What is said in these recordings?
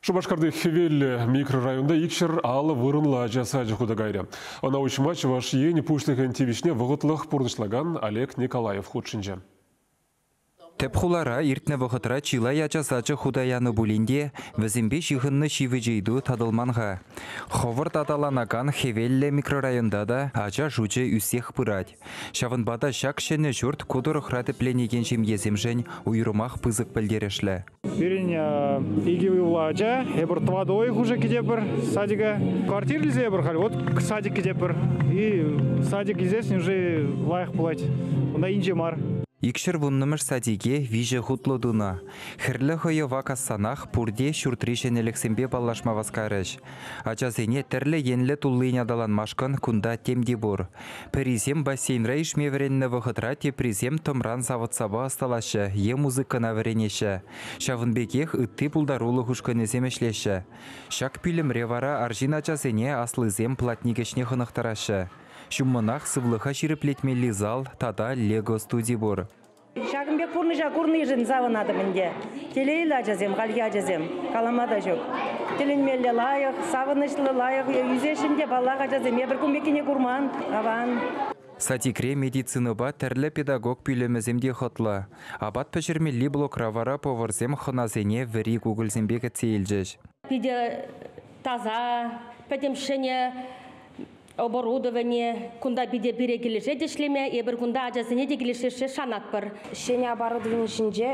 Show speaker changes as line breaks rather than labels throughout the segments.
Шупашкарти Хӗвеллӗ микрорайонта икҫӗр алӑ вырӑнлӑ ача сачӗ хута кайрӗ. Ӑна уҫма Чӑваш Ен Пуҫлӑхӗн тивӗҫне вӑхӑтлӑх пурнӑҫлакан Олег Николаев хутшӑнчӗ.
Тӗп хулара иртнӗ вӑхӑтра чылай ача сачӗ хута янӑ пулин те, вӗсемпе ҫыхӑннӑ ҫивӗч ыйту татӑлман-ха. Хӑвӑрт аталанакан Хӗвеллӗ микрорайонта та ача шучӗ ӳссех пырать. Ҫавӑнпа та ҫак ҫӗнӗ ҫурт ку тӑрӑхра тӗпленекен ҫемьесемшӗн уйрӑмах пысӑк пӗлтерӗшлӗ. Пирӗн
икӗ уйӑхлӑ ача, эпир тӑватӑ уйӑх уже кӗтепӗр садика. Квартира илсе эпир халь вот садик кӗтепӗр. И садик илсессӗн уже лайӑх пулать. Унта инҫе мар. Икҫӗр вуннӑмӗш
садике виҫӗ хутлӑ тунӑ. Хӗрлӗ хӑйӑва кассанах пурте ҫуртри ҫӗнӗлӗхсемпе паллашма васкарӗҫ. Ачасене тӗрлӗ енлӗ туллин аталанмашкӑн кунта тем те пур. Пӗрисем бассейнра ишме вӗреннӗ вӑхӑтра теприсем тӑмран савӑт-сапа ӑсталаҫҫӗ е музыкӑна вӗренеҫҫӗ. Ҫавӑн пекех ытти пултарулӑх ушкӑнӗсем ӗҫлеҫҫӗ. Ҫак пӳлӗмре вара арҫын ачасене аслисем платник ӗҫне хӑнӑхтараҫҫӗ. Ҫуммӑнах сывлӑха ҫирӗплетмелли зал тата лего студи пур. Ҫакӑн пек пурнӑҫа
курнишӗн савӑнатӑп ӗнтӗ. Телейлӗ ачасем, хальхи ачасем, калама та ҫук. Тӗлӗнмелле лайӑх, савӑнӑҫлӑ, лайӑх ӳсесшӗн те, паллах, ачасем эпир кун пеккине курман, аван. Сатикре
медицинӑпа тӗрлӗ педагог пӳлӗмӗсем те хӑтлӑ. Апат пӗҫермелли блокра вара поварсем хӑнасене вӗри кукӑльсемпе кӗтсе илчӗҫ. Питӗ
таса, пӗтӗм ҫӗнӗ оборудование кунта питӗ пире килӗшет ӗҫлеме. Эпир кунта ачасене те килӗшессе шанатпӑр. Ҫӗнӗ оборудовани
ҫинче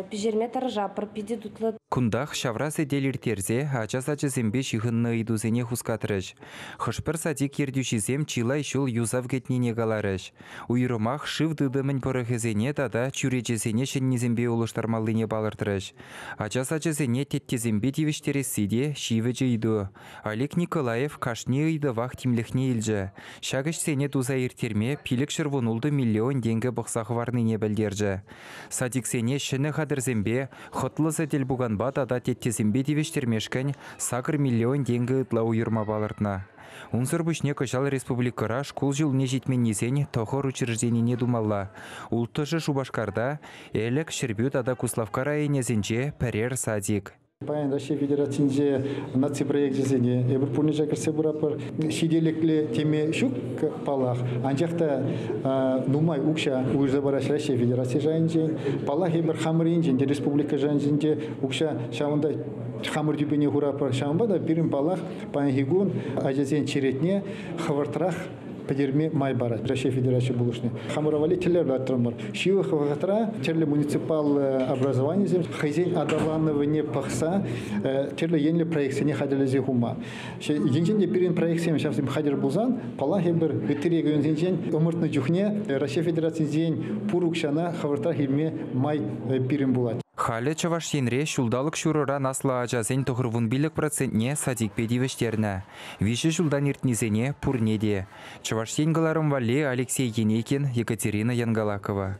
пӗҫерме тӑрӑшатпӑр, питӗ тутлӑ. Кунтах ҫавра
сӗтел ирттерсе ача сачӗсемпе ҫыхӑннӑ ыйтусене хускатрӗҫ. Хӑш-пӗр садик ертӳҫисем чылай ҫул юсав кӗтнине каларӗҫ. Уйрӑмах шыв тытӑмӗн пӑрӑхӗсене тата чӳречесене ҫӗннисемпе улӑштармаллине палӑртрӗҫ. Ача сачӗсене теттесемпе тивӗҫтересси те ҫивӗч ыйту. Олег Николаев кашни ыйтӑвах тимлӗхне илчӗ. Ҫак ӗҫсене туса ирттерме пилӗкҫӗр вунултӑ миллион тенкӗ пӑхса хӑварнине пӗлтерчӗ. Садиксене ҫӗнӗ хатӗрсемпе, хӑтлӑ сӗтел-пуканпа тата теттесемпе тивӗҫтермешкӗн сакӑр миллион тенкӗ ытла уйӑрма палӑртнӑ. Унсӑр пуҫне кӑҫал республикӑра шкул ҫулне ҫитменнисен тӑхӑр учрежденине тумалла. Улттӑшӗ Шупашкарта, Элӗк, Ҫӗрпӳ тата Куславкка районӗсенче пӗрер садик. Паян Раҫҫей
Федерацинче наци проекчӗсене эпир пурнӑҫа кӗрсе пыратпӑр. Ҫителӗклӗ теме ҫук паллах, анчах та нумай укҫа уйӑрса параҫҫӗ Раҫҫей Федераци шайӗнчен. Паллах, эпир хамӑр енчен те республика шайӗнчен укҫа ҫавӑнта хамӑр тӳпене хуратпӑр. Ҫавӑнпа та пирӗн паллах паянхи кун ачасен черетне хӑвӑртрах пӗтерме май парать Раҫҫей Федерацийӗ пулӑшни. Хамӑра валли тӗллев лартрӑмӑр. Ҫывӑх вӑхӑтра тӗрлӗ муниципаллӑ образованисем хӑйсен аталанӑвне пӑхса э, тӗрлӗ енлӗ проектсене хатӗрлесе хума. Енчен те пирӗн проектсем ҫавсем хатӗр пулсан, паллах, эпир ытти регионсенчен ӑмӑртнӑ чухне Раҫҫей Федерацийӗнчен пур укҫана хӑвӑртрах илме май э, пирӗн пулать. Халӗ Чӑваш Енре
ҫулталӑк ҫурӑран аслӑ ачасен тӑхӑр вун пилӗк процентне садикпе тивӗҫтернӗ. Виҫӗ ҫултан иртнисене пурне те, Чӑваш Ен кӑларӑм валли Алексей Енейкин, Екатерина Янгалакова,